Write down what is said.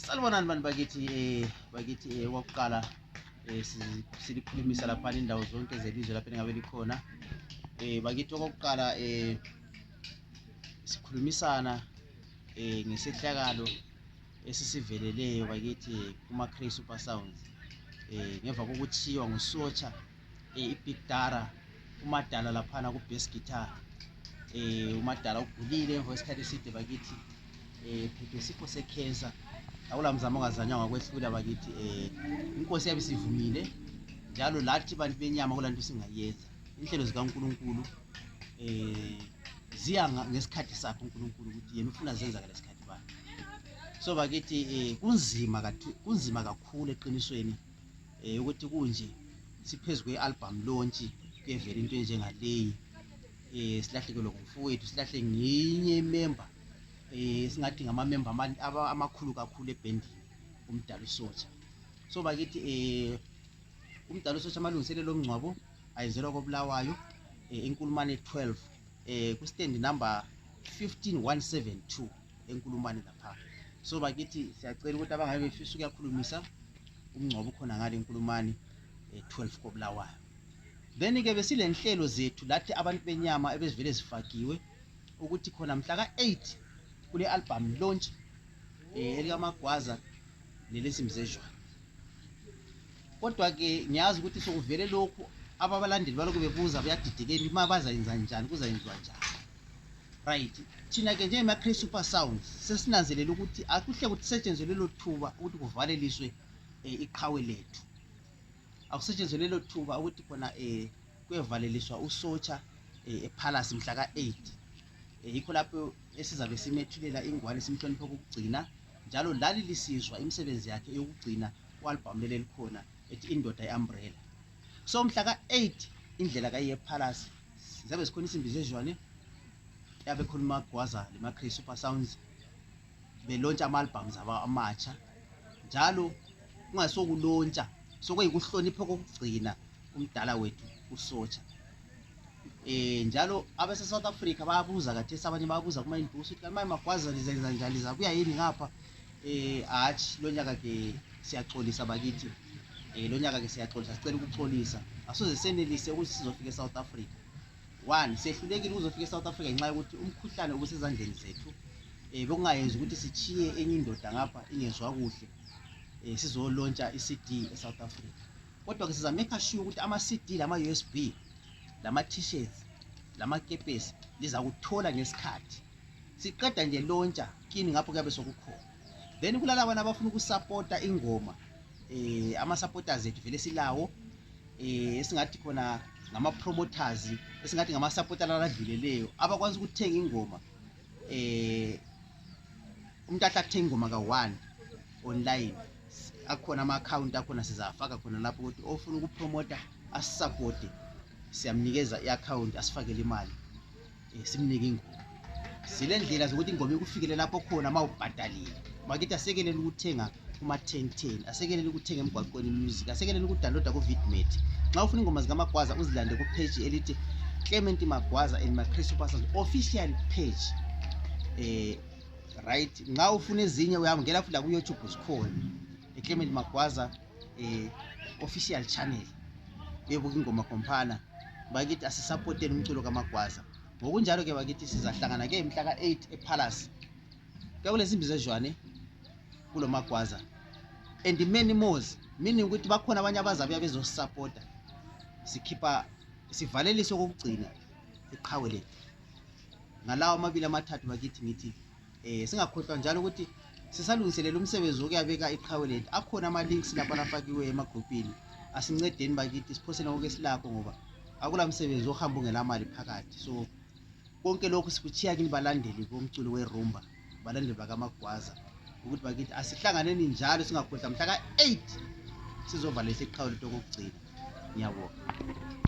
salibonani bantu bakithi eh bakithi eh kwakuqala eh silikhulumisa lapha indawo zonke zelizwe lapha engabe likhona eh bakithi okokuqala eh sikhulumisana eh ngesehlakalo esisiveleleyo bakithi kuma Cray Super Sounds eh ngemva kokuthiwa ngusotsha eh, ipitara umadala laphana ku-bass guitar eh umadala ugulile emva kwesikhathi eside bakithi eh phephe isifo sekhensa akula mzamo ongazanyanga kwehlula bakithi eh inkosi yabe sivumile njalo lathi bantu benyama kula nto singayenza inhlelo zikankulunkulu eh ziya ngesikhathi sakhe unkulunkulu ukuthi yena ufuna zenza ngale sikhathi bani so bakithi um kunzima kunzima kakhulu eqinisweni um ukuthi kunje siphezu kwe-album lontshi kuyevela into enjengaleyi um silahlekelwe ngumfowethu silahle ngenye imemba um singathi ngamamemba amakhulu kakhulu ebhendini umdala usotsha so bakithi um umdala usotsha amalungiselelo omngcwabo ayenzelwa kobulawayo um inkulumane 12 um kustand number 15172 enkulumane lapha so bakithi siyacela ukuthi abangabe befisa ukuyakhulumisa umngcwabo ukhona ngale enkulumane eh, 12 kobulawayo then ke besilenhlelo zethu lathi abantu benyama ebezivele zifakiwe ukuthi khona mhla ka-8 kule album launch eh, elikamagwaza nelesimzezwana kodwa-ke ngiyazi ukuthi sokuvele lokhu ababalandeli balokhu bebuza buyadidekeni uma bazayenza njani kuzayenziwa njani right thina ke njengema-cre super sounds sesinanzelela ukuthi akuhle kusetshenzwe lelo thuba ukuthi kuvaleliswe um iqhawe lethu akusetshenzwe lelo thuba ukuthi khona um kwevaleliswa usotsha um ephalasi mhla ka-eight um yikho lapho esizabe simethulela ingwane simhloniphe okokugcina njalo lali lisizwa imisebenzi yakhe yokugcina u-albhamu leli elikhona ethi indoda i-umbrella so mhla ka-8 indlela kayiyephalasi ziyabe zikhona isimbi zezwane yabe khona umagwaza lemacray super sounds belontsha ama-albums abo amatsha njalo kungasokulontsha sokuyikuhlonipha kokugcina umdala wethu usotsha eh njalo abase South Africa bayabuza kathesi abanye bayabuza kuma industry ukuthi manje magwaza lizenza njani lizabuya yini ngapha Eh hatshi lonyaka ke siyaxolisa bakithi. Eh lonyaka ke siyaxolisa sicela ukuxolisa. Asoze senelise ukuthi sizofika eSouth Africa. One sehlulekile ukuzofika eSouth Africa ngenxa yokuthi umkhuhlane obusezandleni zethu eh bekungayenza ukuthi sichiye enye indoda ngapha ingezwa kuhle. Eh sizolontsha iCD eSouth Africa. Kodwa ke siza make sure ukuthi ama CD lama USB lama t-shirts lamakepesi lizakuthola ngesikhathi siqeda nje lontsha kini ngapho kuyabe sokukhona then kulalabana abafuna ukusapota ingoma um ama-supporters ethu vele silawo um esingathi khona ngama-promoters esingathi ngama-supporter laladluleleyo abakwanisa ukuthenga ingoma um umuntu ahle athenga ingoma ka-one online akhona ama-akhawunti akhona sizafaka khona lapho ukuthi ofuna ukupromota asisapote siyamnikeza i-akhawunti asifakele imali Eh, simnike ingoma silendlela zokuthi ingoma ikufikele lapho khona ma ubhadalile makithi asekelele ukuthenga kuma-ten-ten asekelele ukuthenga emgwaqweni music asekelele ukudaloda ku-vidmet nxa ufuna ingoma zikamagwaza uzilande kupheji elithi clement magwaza and macris upasas official page um right nxa ufuna ezinye uyangela futhi lakuyoutube zikhona eclement magwaza eh, official channel yebuka ingoma khompana bakithi asisapoteni umculo kamagwaza ngokunjalo ke bakithi sizahlangana ke mhla ka-8 epalace kuyakulezimbi zezwane kulo magwaza and many mores meaning ukuthi bakhona abanye abazabuya bezosisapota sikhipha sivaleliso kokugcina iqhawe lethu ngalawo amabili amathathu bakithi ngithi um singakhohlwa njalo ukuthi sisalungiselela umsebenzi wokuyabeka iqhawe lethu akhona ama-links lapho alafakiweyo emagruphini asincedeni bakithi siphosele konke silakho ngoba akula msebenzi ohamba ungelamali phakathi so konke lokhu sikuthiya kini balandeli bomculo werumba balandeli bakamagwaza ukuthi bakithi asihlanganeni njalo singakhohlwa mhla ka-8 sizovala isiqhawe lethu okokugcina ngiyabonga